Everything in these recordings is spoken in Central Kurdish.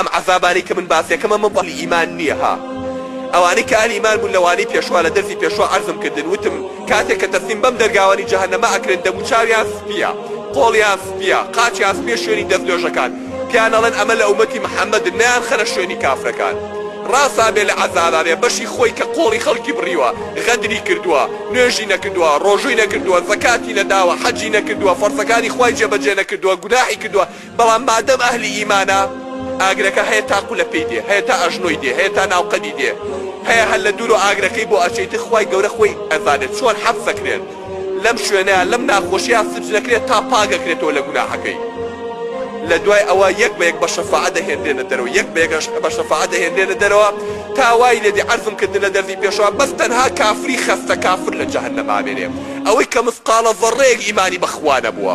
ئەم عەزابانەی کە من باسیەکەم ئەمە بۆ ئەهلی ئیمان نیە ها ئەوانەی کە ئەهلی ئیمان بوون لە وانەی پێشوا لە دەرزی پێشوا عەرزم کردن وتم کاتێک کە تەسلیم بەم دەرگاوانی جەهەنەمە ئەکرێن دەموو چاویان سپیە قۆڵیان سپیە قاچیان سپیە شوێنی دەست نوێژەکان پیان ئەڵێن ئەمە لە ئومەتی محمدن نەیان خەنە شوێنی کافرەکان ڕاسا بێ لە عەزابا بێ بەشی خۆی کە قۆڵی خەڵکی بڕیوە غەدری کردووە نوێژی نەکردووە ڕۆژووی نەکردووە زەکاتی نەداوە حەجی نەکردووە فەرزەکانی خوای جێبەجێ نەکردووە گوناحی کردووە بەڵام مادەم ئەهلی ئیمانە ئاگرەکە هەیە تا قولە پێی دێ هەیە تا ئەژنۆی دێ هەیە تا ناو قەدی دێ هەیە هەر لە دوورۆ ئاگرەکەی بۆ ئەچێ ئیتر خوای گەورە خۆی ئەزانێ چۆن حەبس ئەکرێت لەم شوێنەیا لەم ناخۆشیە سبز ئەکرێت تا پاک ئەکرێتەوە لە گوناحەکەی لە دوای ئەوە یەک بە یەک بە شەفاعە دەهێنرێنە دەرەوە یەک بە یەک بە شەفاعە دەهێنرێنە دەرەوە تا وای لێ دێ عەرزم کردن لە دەرزی پێشەوا بەس تەنها کافری خەستە کافر لە جەهەنەم ئامێنێ ئەوەی کە مسقاڵە زەڕەیەک ئیمانی بە خوا نەبووە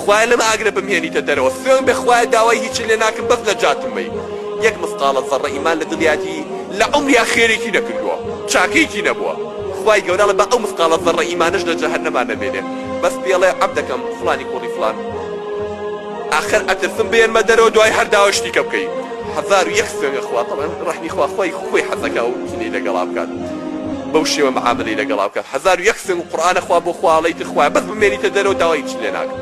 خوایە لەم ئاگرە بمهێنیتە دەرەوە سوێن بە خوایە داوای هیچن لێ ناکم بەس نەجاتم بەی یەک مسقاڵە زەڕە ئیمان لە دڵیاتی لە عومریا خێرێکی نەکردوە چاکەیەکی نەبوە خوای گەورە بە ئەو مسقاڵە زەڕە ئیمانەش لە جەهەنەما نەمێنێ بەس پێڵێ عەب دەکەم فڵانی کوڕی فڵان ئاخر ئەترسم بێنمە دەرەوە دوای هەر داوای شتی کە بکەی هەزار و یەک سوێن بە خوا تەڵعەن ڕەحمی خوا خوای خۆی حەزەکا ئەو کینەی لەگەڵا بکات. بەو شێوە معامەلەی لەگەڵا بکات هەزار و یەک سەر و قورئانە خوا بۆ خوا ئەڵێی تر خوایە بەس بمێنیتە دەرەوە داوای هیچم لێ ناکەم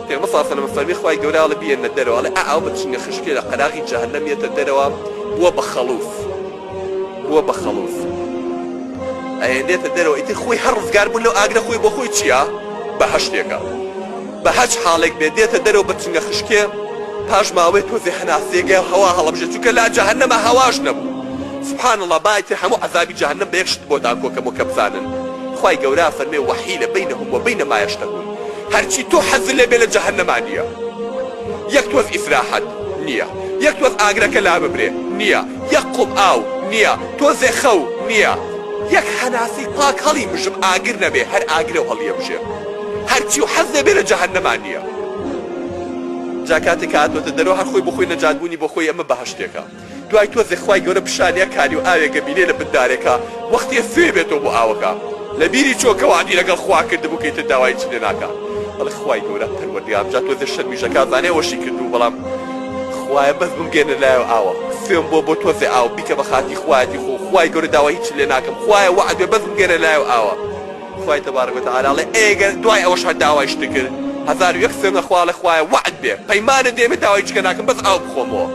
پێغمبەر صلی اللە علیە و سلم فەرمی خوای گەورە ئەڵێ بیێنە دەرەوە ئەڵێ ئا ئەو بە چنگە خشکێ لە قەراغی جەهەنەم یەتە دەرەوە بووە بە خەڵوف بووە بە خەڵوف ئەهێنێتە دەرەوە ئیتر خۆی هەر ڕزگار بوون لەو ئاگرە خۆی بۆ خۆی چییە بەهەشتێکە بەهەچ حاڵێک بێ دێتە دەرەوە بە چنگە خشکێ پاش ماوەێ تۆزێ هەناسەیەکێ هەوا هەڵەبژێ چونکە لا جەهەنەمە هەواش نەبوو سبحان اللە با ئیتر هەموو عەزابی جەهەنەم بە یەک شت بۆ دان کۆکەمەوە کە بزانن خوای گەورە ئەفەرمێ وحیل بینهم وبین ما یشتهون هەرچی تۆ حەزت لێ بێ لە جەهەنەما نییە یەک تۆز ئیسراحەت نییە یەک تۆز ئاگرەکە لا ببرێ نییە یەک قوپ ئاو نییە تۆزێ خەو نییە یەک هەناسەی پاک هەڵی مژم ئاگر نەبێ هەر ئاگرە و هەڵیەمژێ. هەرچیو حەز دەبێ لە جەهەنەما نیە جا کاتێ کە هاتۆتە دەرەوە هەر خۆی بۆ خۆی نەجات بونی بۆ خۆی ئەمە بەهەشتێکە دوای تۆزێ خوای گەورە پیشانیە کاریو ئاوێگە بینێ لە بن دارێکا وەختێ سوێ بێتۆ بۆ ئاوەکە لە بیری چۆ کە وەعدی لەگەڵ خوا کردبو کە ئیتر داوای هیچی لێ ناکا ئەڵێ خوای گەورە پەروەردگارم جا تۆزێ شەرمیش ئەکا زانێ ئەوەشی کردبو بەڵام خوایە بەس بمگەیەنە لایەو ئاوە سوێم بۆ بۆ تۆزێ ئاو بیکە بە خاتری خوایەتی خۆو خوای گەورە داوای هیچی لێ ناکەم خوایە وەعد بێ بەس بمگەیەنە لایەو ئاوە خوای تبارک و تعالی ئەڵێ ئەی گەر دوای ئەوەش هەر داوای شتت کرد هەزار و یەک سوێندە خوا ئەڵێ خوایە وەعد بێ پەیمانت دێ من داوای هیچکە ناکەم بەس ئاو بخۆمەوە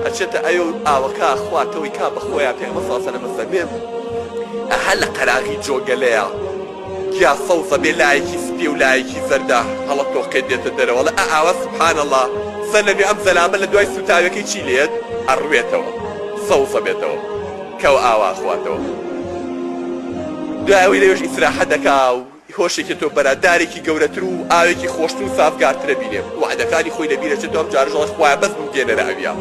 ئەچێتە ئەوێ و ئاوە کا خوا تەوەی کا بە خۆیا پێغەمبەر صلی اللە علیە و سلم بە فەرمێ ئە هە لە قەراغی جۆگەلەیە گیا سەوزە بێ لایەکی سپیە و لایەکی زەردە هەڵە تۆقێ دێتە دەرەوە ئەڵێ ئە ئاوە سبحان اللە سەلەمی ئەم زەلامە لە دوای سوتاوێکەی چی لێت ئەڕوێتەوە سەوزە بێتەوە کەوە ئاوا ئەخواتەوە دوای ئەوەی لەوێش ئیسراحەت دەکا و هۆشێکی تۆ بەرا دارێکی گەورەتر و ئاوێکی خۆشتر و سافگارتر ئەبینێ وەعدەکانی خۆی لەبیر ئەچێتەوە ئەم جارەش ئەڵێ خوایە بەس بمگێنەرە ئەویا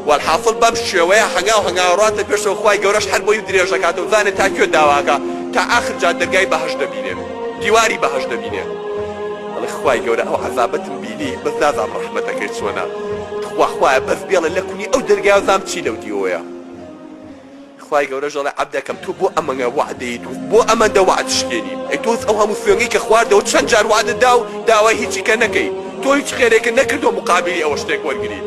وەلحاسڵ بەم شێوەیە هەنگاو هەنگاو ڕاتە پێشەوە خوای گەورەش هەر بۆی درێژ ئەکاتەوە بزانێ تا کوێ داوا ئەکا تا ئاخر جا دەرگای بەهەشت دەبینێ دیواری بەهەشت دەبینێ ئەڵێ خوای گەورە ئەو عەزابەتم بینی بەس نازانم ڕەحمەتەکەی چۆنە تخوا خوایە بەس بێڵێ لە کونی ئەو دەرگایە و زانم چی لەو دیوەیە. خوای گەورەش دەڵێ عەبدەکەم تۆ بۆ ئەمەگە وەعدەیت و بۆ ئەمەندە وەعد شکێنی ئەی تۆز ئەو هەموو سوێنگەی کە خواردەوە چەند جار وەعدت دا و داوای هیچی کە نەکەی تۆ هیچ خێرێکت نەکردوە مقابلی ئەوە شتێک وەرگری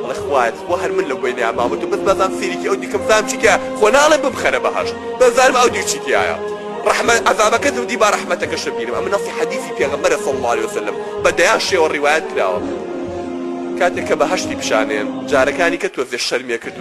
ئەڵێ خوایە تخوا هەر من لەو بەینەیا مامە تۆ بەس بزانم سەیرێکی ئەو دیکەم بزانم چی تیایە خۆ ناڵێم بمخەرە بەهەشت بەس بزانم ئەو دی چی تیایە ڕەحمەت عەزابەکە زەودی با ڕەحمەتەکەشە بینم ئەمە نەسی حەدیسی پێغەمبەرە صلی اللە علیە وسلم بە دەیان شێوە ڕیوایەت کراوە کاتێک کە بەهەشتی پیشانێن جارەکانی کە تۆزێ شەرمیە کردوە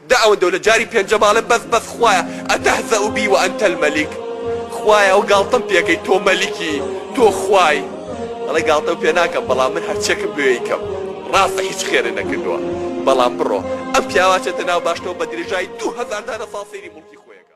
دە ئەوەندە و لە جاری پێنجەم ئەڵێ بەس بەس خوایە اتهزا بی وانت الملک خوایە ئەوە گاڵتەم پێکەی تۆ مەلیکی تۆ خوای ئەڵێ گاڵتەو پێ ناکەم بەڵام من هەرچیەکم بوێ ئەیکەم ڕاستە هیچ خێرێ نەکردوە بەڵام بڕۆ ئەم پیاوە ئەچێتە ناو باشتەوە بە درێژایی دوو هەزار دانە ساڵ سەیری موڵکی خۆیەکە.